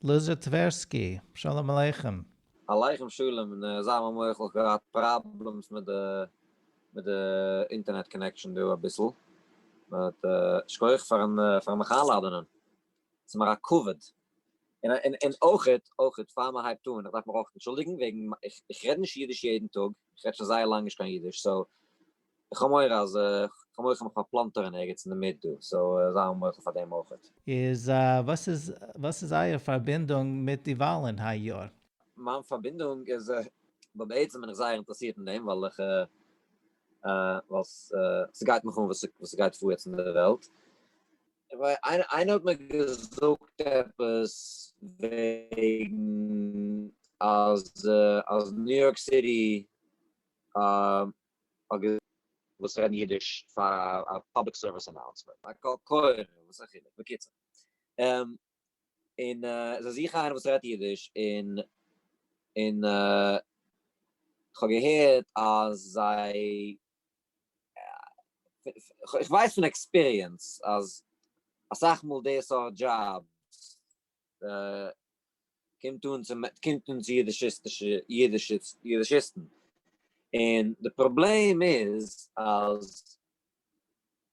לוזי טווערסקי, שלום עליכם. עליכם שלום, נע זיי מיר מוחל, כ'געהאט פראבלעמס מיט די מיט די אינטערנעט קאנעקשאן דא אביסל, באט שכוח פארן פארן מיך איינלאדענען, ס'מיר א כבוד, און און אויכעט אויכעט פאר מ'הייבט אן, איך דארף מיך אויך אנטשולדיגן וועגן איך רעד נישט אידיש יעדן טאג, איך רעד שוין זייער לאנג נישט קיין אידיש, סאו איך האב מורא אז כ'האב מורא כ'האב מיך פארפלאנטערן ערגעץ אינדערמיט דא, סאו זיי האבן מוחל פאר דעם אויכעט. איז וואס איז וואס איז אייער פארבינדונג מיט די וואלן היי יאר? מיין פארבינדונג איז בה בעצם בין איך זייער אינטערעסירט אין דעם ווייל איך ווייל ס'גייט מיך אן וואס וואס ס'גייט פאר יעצט אין די וועלט. איינער האט מיר געזאגט עפעס וועגן אז אז ניו יארק סיטי האט געזאגט. וואס רעדן אידיש פאר א פאבליק סערוויס אנאונסמענט, א קול קורא, וואס א חילוק, בקיצור. און זיי זוכן איינער וואס רעדט אידיש, און און כ'האב געהערט אז זיי, כ'ווייס פון עקספיריענס אז אסאך מאל די סארט דזשאבס קומט אן צו קומט אן צו אידישיסטישע אידישיסטן און די פראבלעם איז אז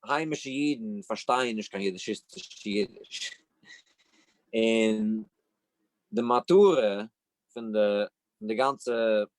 היימישע אידן פארשטייען נישט קיין אידישיסטישע אידיש און די מטרה פון די גאנצע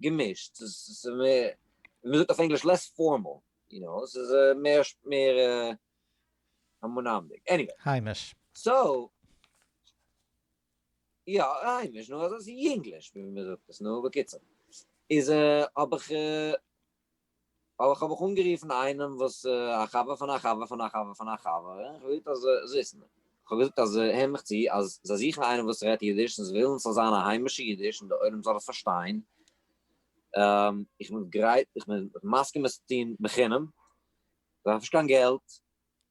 געמישט, ס'איז מער, ווי מ'זאגט אויף ענגליש, לעס פארמאל, יו נאו, ס'איז מער, מער המונים'דיג, עניוועי. היימיש. סאו, יא, היימיש, נו, אזוי, ס'איז יונגליש, ווי מ'זאגט עס, נו, בקיצור, איז האב איך. ווייל איך האב איך אנגערופן איינעם וואס א חבר פון א חבר פון א חבר פון א חבר, און איך האב געזאגט אז זיסן, איך האב געזאגט אז הער מיך צו, אז זיי זוכן איינעם וואס רעדט אידיש, און זיי ווילן ס'זאל זיין א היימישע אידיש און דער עולם זאל עס פארשטיין, איך בין גרייט, איך בין מסכים עס צו טון בחינם, איך דארף נישט קיין געלט.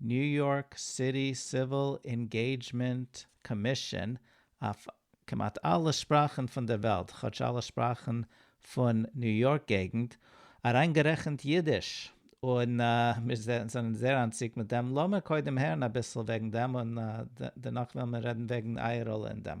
ניו יארק סיטי סיוויל אינגעידזשמענט קאמישאן אויף כמעט אלע שפראכן פון דער וועלט, כאטש אלע שפראכן פון ניו יארק געגנט, אריינגערעכנט אידיש, און מיר זענען זייער אנטציקט מיט דעם, לאמיר קודם הערן אביסל וועגן דעם און דערנאך וועלן מיר רעדן וועגן אייער ראלע אין דעם.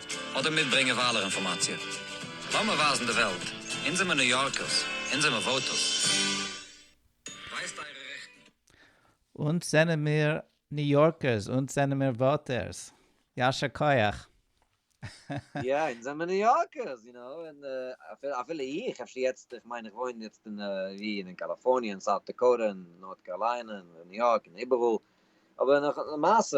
אדער מיטברענגען וויילער אינפארמאציע. לאמיר ווייזן די וועלט, אונז זעמיר ניו יארקערס, אונז זעמיר וואוטערס. ווייזט אייערע רעכטן. אונז זענעמיר ניו יארקערס, אונז זענעמיר וואוטערס. יישר כח. יא, אונז זעמיר ניו יארקערס, יו נאו, און אפילו איך, אפשר יעצט, איך מיין איך וואוין יעצט אין ווי, אין קאליפארניע, אין סאוט דעקאוטע, אין נארט קארליינע, אין ניו יארק, אין איבעראל, אבער למעשה,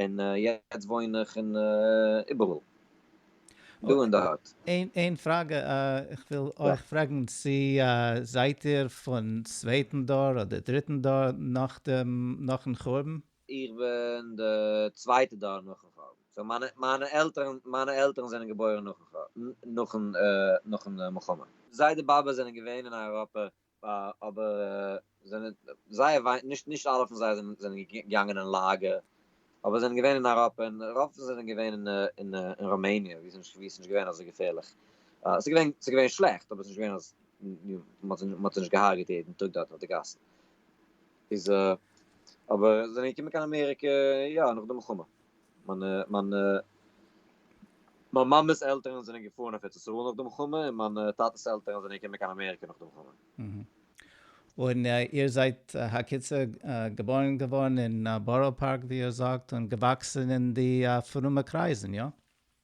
און יעצט וואוין איך אין איבעראל דא און דארט. איין פראגע, איך וויל אייך פרעגן צו זייט איר פון צווייטן דור אדער דריטן דור נאכן חורבן? איך בין די צווייטע דור נאכן חורבן, סאו מיינע עלטערן מיינע עלטערן זענען געבוירן נאכן נאכן מלחמה. זיידע באבע זענען געווען אין אייראפע אבער זענען זייער וויי נישט נישט אלע פון זיי זענען זענען געגאנגען אין לאגער אבער זענען געווען אין אייראפע און רוב פון זיי זענען געווען אין אין אין ראמעניע ווי ס'נישט ווי ס'נישט געווען אזוי געפערליך ס'איז געווען ס'איז געווען שלעכט אבער ס'נישט געווען אז מ'האט זיי מ'האט זיי נישט געהארגעט יעדן טאג דארט אויף די גאסן איז אבער זענען געקומען קיין אמעריקע יא נאך די מלחמה. מיינע מיינע מיין מאמעס עלטערן זענען געפארן אויף ארץ ישראל נאך די מלחמה און מיינע טאטעס עלטערן זענען געקומען קיין אמעריקע נאך די מלחמה. און איר זייט הקיצור געבוירן געווארן אין בארא פארק ווי איר זאגט און געוואקסן אין די פרומע קרייזן, איא?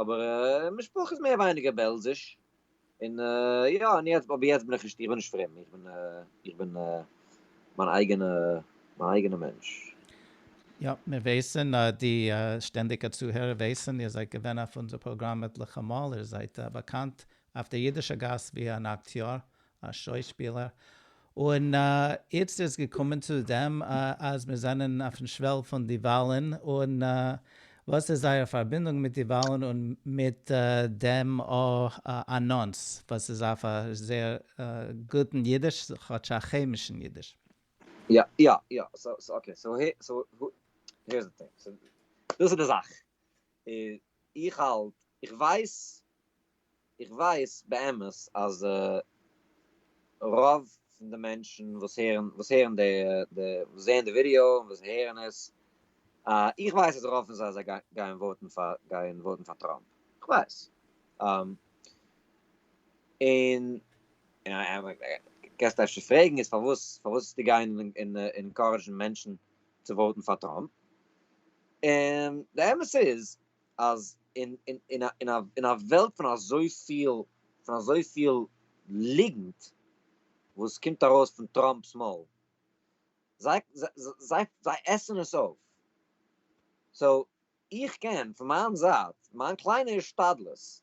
אבער משפחה איז מער ווייניגער בעלזיש, און יא, און יעצט, אבער יעצט בין איך נישט, איך בין נישט פרום, איך בין, איך בין מיין אייגענע, מיין אייגענע מענטש. יא, מיר ווייסן, די שטענדיגע צוהערער ווייסן, איר זייט געווען אויף אונזער פראגראם עטליכע מאל, איר זייט באקאנט אויף דער אידישער גאס ווי אן אקטיאר, א שוי שפילער, און איצט איז געקומען צו דעם אז מיר זענען אויפן שוועל פון די וואלן, און וואס איז זייער פארבינדונג מיט די וואלן און מיט דעם אנאנס, וואס איז אויף א זייער גוטן אידיש, כאטש א כעמישן אידיש. יא יא יא, סאו סאו אקעי, סאו הער סאו הערס די טינג, דאס איז די זאך, איך האלט, איך ווייס איך ווייס באמת אז רוב פון די מענטשן וואס הערן וואס הערן די די וואס זעען די ווידעא און וואס הערן עס אה איך ווייס אז רוב פון זיי זיי גייען וואוטן פאר גייען וואוטן פאר טראמפ איך ווייס און קענסט אפשר פרעגן איז פארוואס פארוואס וועסטו גיין און אינקארעדזשן מענטשן צו וואוטן פאר טראמפ און די אמת איז אז אין א וועלט פון אזויפיל פון אזויפיל ליגנט וואס קומט ארויס פון טראמפ'ס מויל, זיי זיי עסן עס אויף, סאו איך קען פון מיין זייט מיין קליינע השתדלות,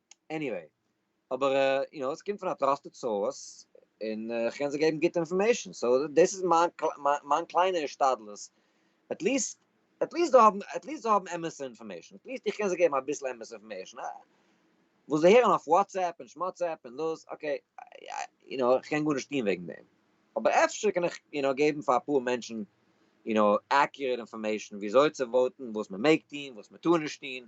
עניוועי, אבער יו נאו, עס קומט פון א טראסטעד סאורס, און איך קען זיי געבן גוטע אינפארמעישן, סאו דאס איז מיין קליינע השתדלות, עטליסט עטליסט זיי האבן עטליסט זיי האבן אמת'ע אינפארמעישן, עטליסט איך קען זיי געבן אביסל אמת'ע אינפארמעישן, וואס זיי הערן אויף וואטסעפפ און שמאטסעפפ און דאס, אקעי, יו נאו, איך קען גארנישט טון וועגן דעם, אבער אפשר קען איך יו נאו געבן פאר אפאר מענטשן יו נאו עקיוראט אינפארמעישן וויאזוי צו וואוטן, וואס מען מעג טון, וואס מען טאר נישט טון,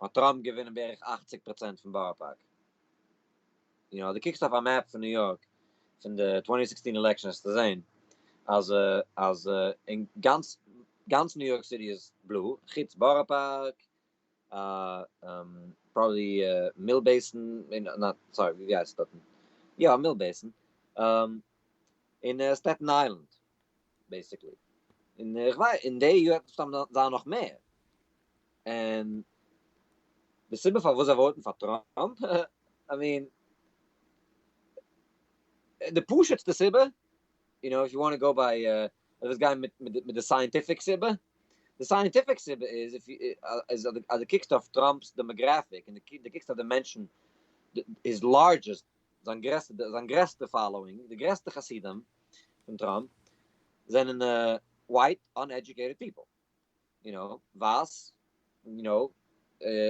האט טראמפ געווינען בערך אַכציק פראצענט פון בארא פארק. און אויב דו קוקסט אויף א מעפ פון ניו יארק פון די צוואַנצן זעקסצן עלעקשאן וועסטו זען אז אז אין גאנץ גאנץ ניו יארק סיטי איז בלוי, חוץ בארא פארק, פראבעבלי מיל בעיסן, נאט סארי ווי הייסט עס דארטן, יא מיל בעיסן, און סטעטן איילענד. בעסיקלי, און איך ווייס אין די יאר וועט מסתם זיין נאך מער, און די סיבה פארוואס זיי וואוטן פאר טראמפ, איי מין, די פשוט'סטע סיבה, יו נאו איף יו וואנט טו גאו ביי, מ'וויל גיין מיט די סייענטיפיק סיבה, די סייענטיפיק סיבה איז אז דו קוקסט אויף טראמפ'ס דעמאגראפיק און דו קוקסט אויף די מענטשן, היז לארדזשעסט זיין גרעסטע זיין גרעסטע פאלאווינג די גרעסטע חסידים פון טראמפ זענען ווייט אנעדזשוקעיטעד פיפל יו נאו ווייס יו נאו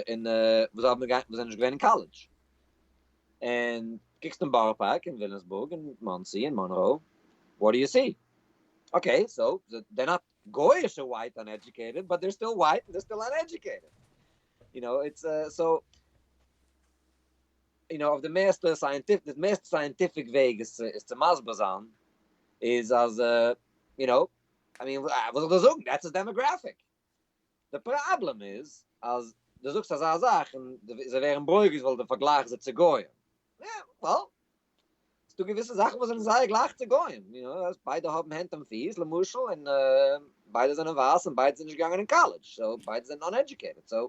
און וואס האבן געווען וואס זענען נישט געווען אין קאלעדזש און קוקסט אין בארא פארק און וויליאמסבורג און מאנסי און מאנרא וואט דו יו סי אקעי סאו דער נאט גויאישע ווייט אנעדזשוקעיטעד באט דער סטיל ווייט און דער סטיל אנעדזשוקעיטעד יו נאו איטס סאו יו נאו אויף די מערסטע סייענטיפיק די מערסטע סייענטיפיק וועג עס עס צו מסביר זיין איז אז יו נאו איי מין וואס זאל איך דיר זאגן דעטס איז דעמאגרעפיק די פראבלעם איז אז די זאגסט אזא זאך און זיי ווערן ברוגז ווייל די פארגלייכסט זיי צו גוים וועל ס'דא געוויסע זאכן וואס זענען זייער גלייך צו גוים יו נאו אז ביידע האבן הענט און פיס למשל און ביידע זענען ווייס און ביידע זענען נישט געגאנגען אין קאלעדזש סאו ביידע זענען אנעדזשוקעיטעד סאו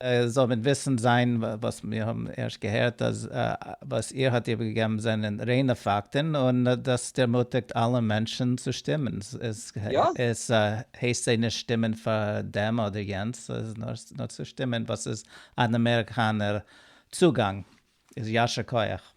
ער זאָל ניט װיסן זײַן, װאָס מיר האָבן ערשט געהערט, אַז װאָס איר האָט איבערגעגעבן זענען רײנע פֿאַקטן, און דאָס דערמוטיקט אַלע מענטשן צו שטימען. עס הײסט זײ נישט שטימען פֿאַר דעם אָדער יענץ, נאָר צו שטימען, װאָס איז אַן אַמעריקאַנער צוגאַנג. איז ישר כּוח.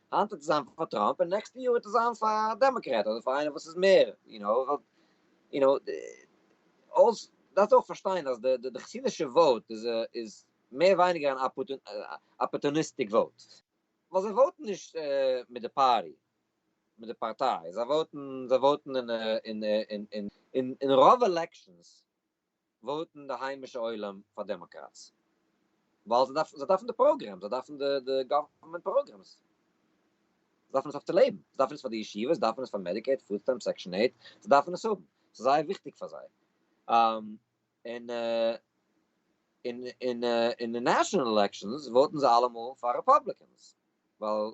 היינט וועט עס זיין פאר טראמפ און נעקסטע יאר וועט עס זיין פאר א דעמאקרעט אדער פאר איינער וואס איז מער יו נאו ווייל יו נאו אלס דארפסט אויך פארשטיין אז די די חסידישע וואוט איז איז מער ווייניגער אן אפארטוניסטיק וואוט ווייל זיי וואוטן נישט מיט די פארטי מיט די פארטיי זיי וואוטן זיי וואוטן און און און און און רוב עלעקשאנס וואוטן די היימישע עולם פאר דעמאקראטס ווייל זיי דארפן זיי דארפן די פראגרעמס זיי דארפן די די גאווערמענט פראגרעמס זיי דארפן עס אויף צו לעבן זיי דארפן עס פאר די ישיבות זיי דארפן עס פאר מעדיקעיד פוד סטעמפס סעקשאן עיט זיי דארפן עס האבן ס'איז זייער וויכטיג פאר זיי און אין אין אין נעשאנעל עלעקשאנס וואוטן זיי אלעמאל פאר רעפאבליקענס ווייל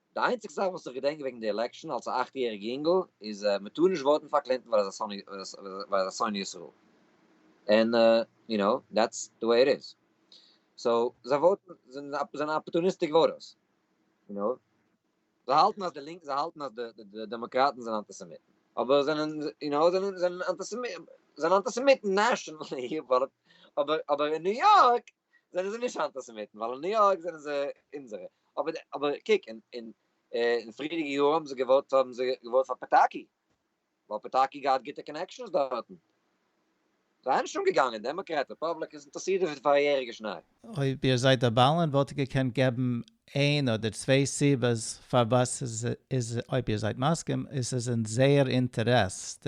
די איינציגסטע זאך וואס איך געדענק וועגן די עלעקשאן אלס א אכט יעריג יונגל איז מען טאר נישט וואוטן פאר קלינטאן ווייל ער איז א שונא ישראל און יו נאו דעטס די וועי איט איז סאו זיי וואוטן זענען אפארטוניסטיק וואוטערס יו נאו זיי האלטן אז די לינקע זיי האלטן אז די דעמאקראטן זענען אנטיסעמיטן אבער זענען יו נאו זענען אנטיסעמיטן נעשאנעלי אבער אבער אין ניו יארק זענען זיי נישט אנטיסעמיטן, ווייל אין ניו יארק זענען זיי אונזערע. אבער אבער קוק, אין אין אין פריערדיגע יארן האבן זיי געוואוט האבן זיי געוואוט פאר פאטאקי, ווייל פאטאקי האט געהאט גוטע קאנעקשאנס דארטן. זיי נישט אומגעגאנגען, דעמאקראט, רעפובליק, איז אינטערסירט אין פאריעריגע שניי. אויב איר זייט א באלען וואלט איר געקענט געבן איין אדער צוויי סיבות פארוואס עס איז אויב איר זייט מסכים עס איז אין זייער אינטערעס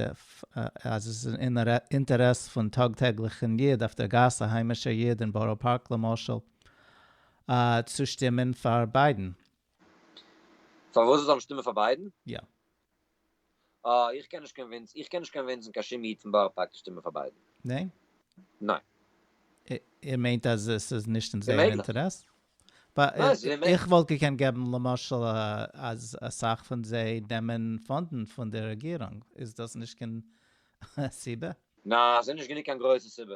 אז עס איז אין אינטערעס פון טאג טעגליכן יוד אויף דער גאס א היימישער יוד אין בארא פארק למשל צו שטימען פאר ביידן. פארוואס זאל מען שטימען פאר ביידן? יא. אה, איך קען נישט קאנווינסן, איך קען נישט קאנווינסן קיין שום איד פון בארא פארק צו שטימען פאר ביידן. ניין? ניין. איר מיינט אז עס איז נישט אין זייער אוממעגליך. אינטערעס? ניין, עס איז אוממעגליך. איך וואלט געקענט געבן למשל אז אסאך פון זיי נעמען פאנדן פון די רעגירונג, איז דאס נישט קיין סיבה? ניין, עס איז נישט גענוג קיין גרויסע סיבה.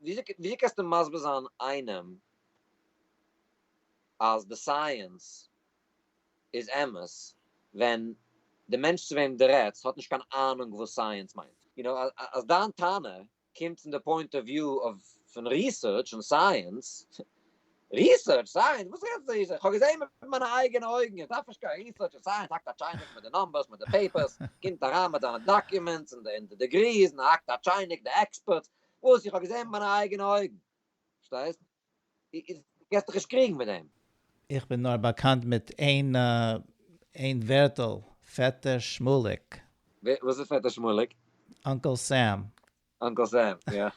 וויאזוי קענסטו מסביר זיין איינעם אז די סייענס איז אמת ווען די מענטש צו וועם די רעדסט האט נישט קיין אהנונג וואס סייענס מיינט? יו נאו, אז דיין טענה קומט פון די פוינט אוו וויו פון ריסערטש און סייענס, ריסערטש סייענס? וואס רעדסטו פון ריסערטש? כ'האב געזען מיט מיינע אייגענע אויגן, איך דארף נישט קיין ריסערטש און סייענס, האקט א טשייניק מיט די נומבערס, מיט די פעיפערס, קומט אריין מיט זיינע דאקומענטס און די דעגריס און האקט א טשייניק, די עקספערטס, וואס איך האב געזען מיט מיינע אייגענע אויגן, פארשטייסט? דו גייסט דיך נישט קריגן מיט דעם. איך בין נאר באקאנט מיט איין איין ווערטל, פעטער שמואליק. וואס איז פעטער שמואליק? אנקעל סעם, אנקל סעם, יא.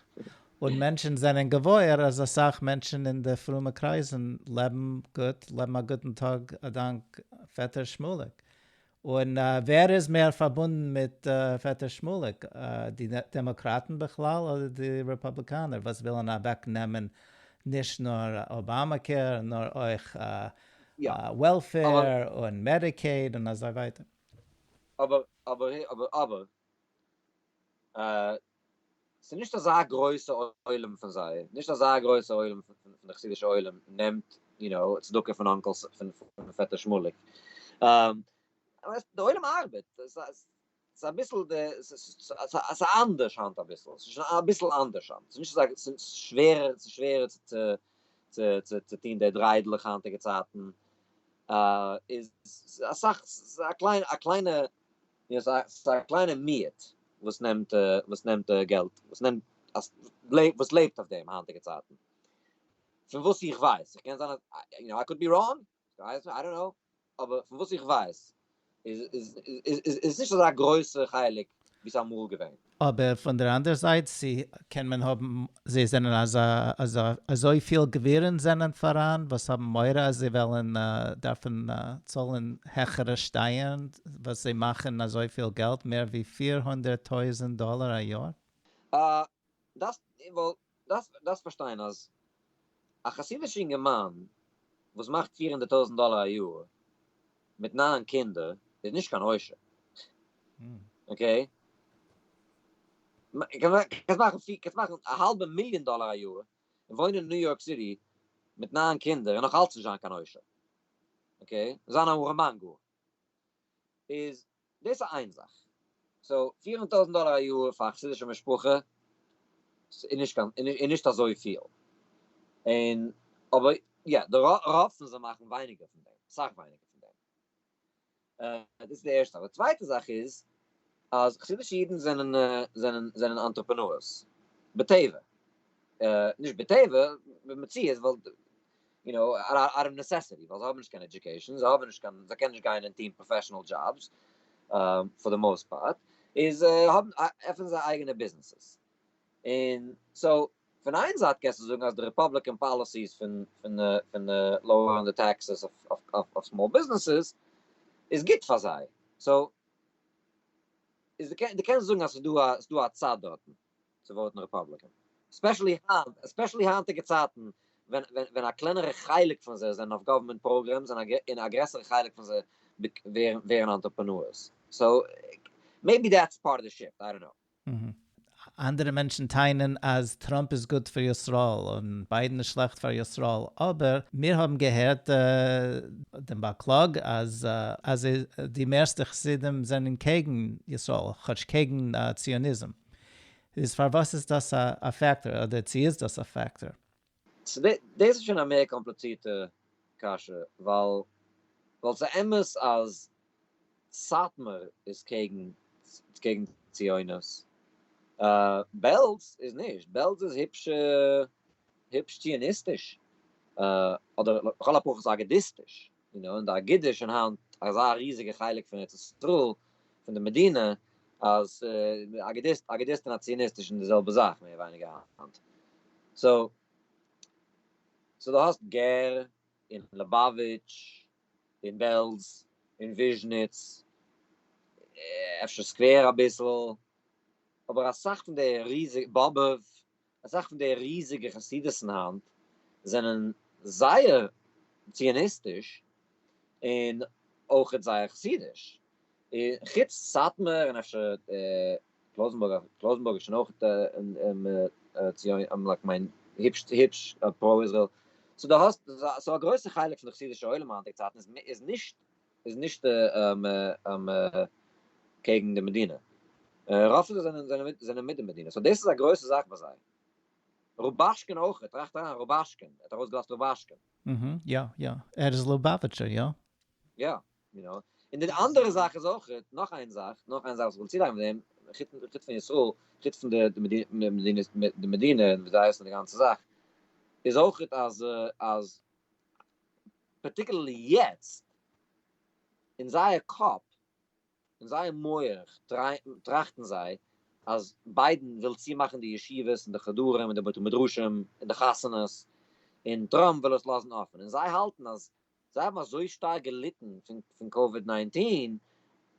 און מענטשן זענען געוואויר אז אסאך מענטשן אין די פרומע קרייזן לעבן גוט, לעבן א גוטן טאג אדאנק פעטער שמואליק. און ווער איז מער פארבונדן מיט פעטער שמואליק, די דעמאקראטן בכלל אדער די רעפאבליקאנער וואס ווילן אוועקנעמען נישט נאר אבאמא קעיר נאר אויך וועלפעיר און מעדיקעיד און אזוי ווייטער. אבער אבער אבער אבער ס'איז נישט אזא גרויסע עולם פון זיי, נישט אזא גרויסע עולם פון די חסידישע עולם נעמט יו נאו צדקה פון אנקעל פון פעטער שמואליק, די עולם ארבעט, ס'איז אביסל די, ס'איז אנדערש היינט אביסל, ס'איז שוין אביסל אנדערש היינט, ס'איז נישט אזא, ס'איז שווערער, ס'איז שווערער צו טון די דריידלעך היינטיגע צייטן, איז אסאך, ס'איז א קליינע. יא, ס'איז א קליינע מיעוט וואס נעמט וואס נעמט געלט, וואס נעמט וואס לעבט אויף דעם היינטיגע צייטן, פון וואס איך ווייס, איך קען זיין יו נאו איי קאוד בי ראנג, איי דאנט נאו, אבער פון וואס איך ווייס איז איז איז עס נישט אזא גרויסע חלק ווי ס'איז אמאל געווען. אבער פון דער אנדער זייט צו קען מען האבן זיי זענען אזא אזא אזוי פיל גבירין זענען פאראן וואס האבן מורא אז זיי וועלן דארפן צאלן העכערע שטייערן וואס זיי מאכן אזוי פיל געלט מער ווי פֿיר הונדערט טויזענט דאלער א יאר. אה דאס וואלט דארפסט פארשטיין אז א חסידישע אינגערמאן וואס מאכט פֿיר הונדערט טויזענט דאלער א יאר מיט נײַן קינדער איז נישט קיין עושר, אקעי? קענסט מאכן א האלבע מיליאן דאלער א יאר און וואוינען אין ניו יארק סיטי מיט נײַן קינדער און נאך אלץ נישט זיין קיין עושר, אקעי? זיין אן ארעמאן גאר. איז דאס איז איין זאך, סאו פירן טויזנט דאלער א יאר פאר א חסידישע משפחה איז נישט קיין איז נישט אזויפיל, און אבער יא די רוב פון זיי מאכן ווייניגער פון דעם, אסאך ווייניגער פון דעם, דאס איז די ערשטע זאך, די צווייטע זאך איז אז חסידישע אידן זענען זענען זענען אנטרעפענארס בטבע, נישט בטבע, במציאות ווייל. יו נאו, אוט אוו נעסעסיטי, ווייל זיי האבן נישט קיין עדיוקעישאן, זיי האבן נישט קיין, זיי קענען נישט גיין און טוהן פראפעשענעל דזשאבס, פאר די מאוסט פארט, איז האבן, עפענען זיי אייגענע ביזנעסעס. און סאו, פון איין זייט קענסטו זאגן אז די רעפאבליקען פאליסיס פון פון לאוערן די טעקסעס אויף סמאל ביזנעסעס איז גוט פאר זיי, סאו, איז דו קענסט זאגן אז ס'איז דא א צד דארטן. צו וואוטן רעפאבליקען, עספעשעלי היינט, עספעשעלי היינטיגע צייטן ווען א קלענערע חלק פון זיי זענען אויף גאווערמענט פראגרעמס און א גרעסערע חלק פון זיי ווערן אנטרעפענארס, סאו מעיבי דעטס פארט אוו די שיפט, איי דאנט קנאו. אנדערע מענטשן טענה'ן אז טראמפ איז גוט פאר ישראל און ביידן איז שלעכט פאר ישראל, אבער מיר האבן געהערט דעם באקלאג אז די מערסטע חסידים זענען קעגן ישראל, כאטש קעגן ציוניזם. איז פארוואס איז דאס א פעקטאר אדער צו איז דאס א פעקטאר? דאס איז שוין א מער קאמפליצירטע קשיא ווייל ווייל ס'אמת אז סאטמאר איז קעגן קעגן ציונות, בעלז איז נישט, בעלז איז היפש היפש ציוניסטיש אדער לכל הפחות אגודיסטיש. און און די אגודה איז שוין היינט אזא ריזיגע חלק פון ארץ ישראל, פון די מדינה, אז אגודיסט אגודיסט און א ציוניסט איז שוין די זעלבע זאך מער ווייניגער היינט. סאו סאו דו האסט גער און ליבאוויטש און בעלז און וויזשניץ, אפשר סקווער אביסל, אבער אסאך פון די ריזיגע, באבוב, אסאך פון די ריזיגע חסידות'ן היינט זענען זייער ציוניסטיש און אויכעט זייער חסידיש, חוץ סאטמאר און אפשר קלויזענבורג, קלויזענבורג איז שוין אויכעט ציוני, כ'מיין היפש היפש פרא איזרעיל, סאו דו האסט, סאו א גרויסע חלק פון די חסידישע עולם היינטיגע צייטן איז נישט איז נישט קעגן די מדינה, רוב פון זיי זענען זענען מיט די מדינה, סאו דאס איז א גרויסע זאך ביי זיי, רובאשקין אויך, טראכט אריין, רובאשקין, ער האט ארויסגעלאזט רובאשקין. אהה, יא יא, ער איז לובאוויטשער, יא? יא, יו נאו, און די אנדערע זאך איז אויך, נאך איין זאך, נאך איין זאך וואס איך וויל צולייגן מיט דעם, חוץ פון ישראל, חוץ פון די מדינה און וויאזוי זיי הייסן און די גאנצע זאך, איז אויך אז אז. פארטיקולערלי יעצט, אין זייער קאפ, אין זייער מוח, טראכטן זיי אז ביידן וויל צומאכן די ישיבות און די חדרים און די בתי מדרשים און די חתונות, און טראמפ וויל עס לאזן אפען, און זיי האלטן אז זיי האבן אזוי שטארק געליטן פון קאוויד ניינטין,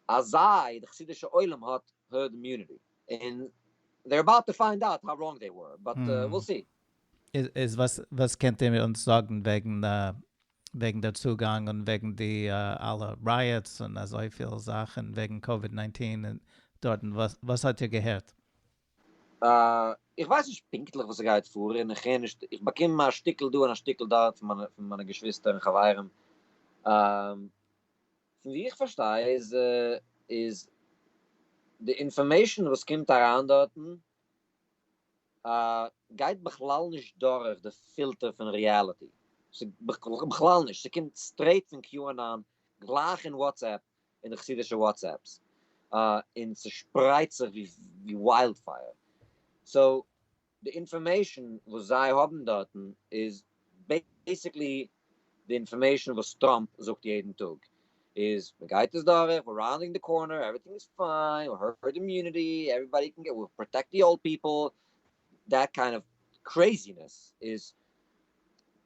אז זיי, די חסידישע עולם האט הערד אימיוניטי, און זיי אר אבאוט טו פיינד אוט האו ראנג זיי ווער, באט וויל סי. איז וואס קענט איר אונז זאגן וועגן וועגן דער צוגאנג און וועגן די אלע רייעטס און אזויפיל זאכן וועגן קאוויד ניינטין דארטן וואס האט איר געהערט? איך ווייס נישט פונקטליך וואס ס'גייט פאר און איך הער נישט, איך באקום א שטיקל דא און א שטיקל דארט פון מיינע געשוויסטער און חברים, פון ווי איך פארשטיי איז איז די אינפארמעישאן וואס קומט אריין דארטן, א גייט בכלל נישט דורך די פילטער פון ריעליטי, בכלל נישט, ס'קומט סטרעיט פון QAnon גלייך אין וואטסעפפ אין די חסידישע וואטסעפפס, און ס'שפרייט זיך ווי וויילד פייער, סאו די אינפארמעישן וואס זיי האבן דארטן איז בעיסיקלי די אינפארמעישן וואס טראמפ זאגט יעדן טאג איז מען גייט עס דורך, ווער ראונדינג די קארנער, עווריטינג איז פיין, הערד אימיוניטי, עווריבאדי קען געט, וויל פראטעקט די אולד פיפל, דעט קיינד אוו קרעזינעס איז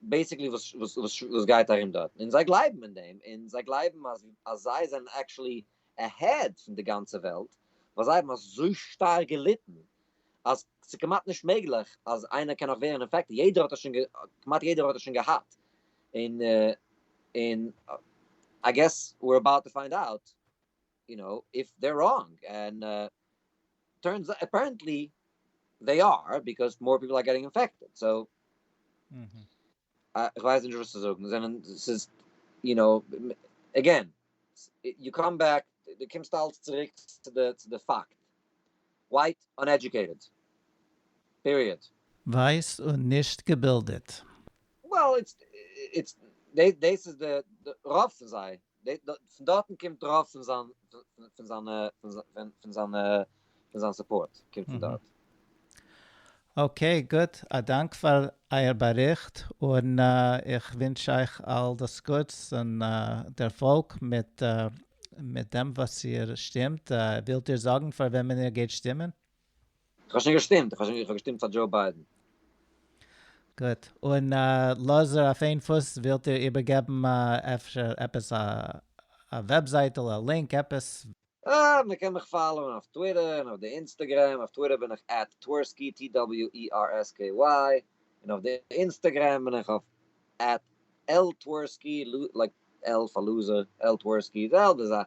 בעיסיקלי וואס גייט ארום דארטן, און זיי גלייבן אין דעם, און זיי גלייבן אז זיי זענען עקשעלי עהעד פון די גאנצע וועלט, ווייל זיי האבן אזוי שטארק געליטן אז ס'איז כמעט נישט מעגליך אז איינער קען נאך ווערן אינפעקטעד, יעדער האט עס שוין, כמעט יעדער האט עס שוין געהאט, און און איי געס וויר עבאוט טו פיינד אוט יו נאו איף דער ראנג, און טורנס אוט אפערענטלי זיי אר, ביקאוז מאר פיפל אר געטינג אינפעקטעד, סאו. איך ווייס נישט וואס צו זאגן, זענען, ס'איז, יו נאו, עגעין, יו קאם בעק, דו קומסט אלץ צוריק צו די, צו די פאקט, ווייט אנעדזשוקעיטעד, פיריעד. ווייס און נישט געבילדעט. Well, איטס, איטס, דעיס איז די, רוב פון זיי, פון דארטן קומט רוב פון זיין פון זיינע פון פון זיינע פון זיין סופארט קומט פון דארט. אקעי גוט, א דאנק פאר אייער באריכט, און איך ווינטש אייך אל דאס גוטס און דערפאלג מיט מיט דעם וואס איר שטימט, ווילט איר זאגן פאר וועמען איר גייט שטימען? איך האב שוין געשטימט, איך האב שוין געשטימט פאר דזשאו ביידען. גוט, און לאזער אויף איין פוס ווילט איר איבערגעבן אפשר עפעס א וועבזייטל א לינק עפעס? אה, מען קען מיך פאלאוען אויף טוויטער און אויף די אינסטעגרעם, אויף טוויטער בין איך עט טווערסקי TWERSKY און אויף די אינסטעגרעם בין איך אויף עט ltversky, לייק L פאר לוזער, L טווערסקי, זעלבע זאך.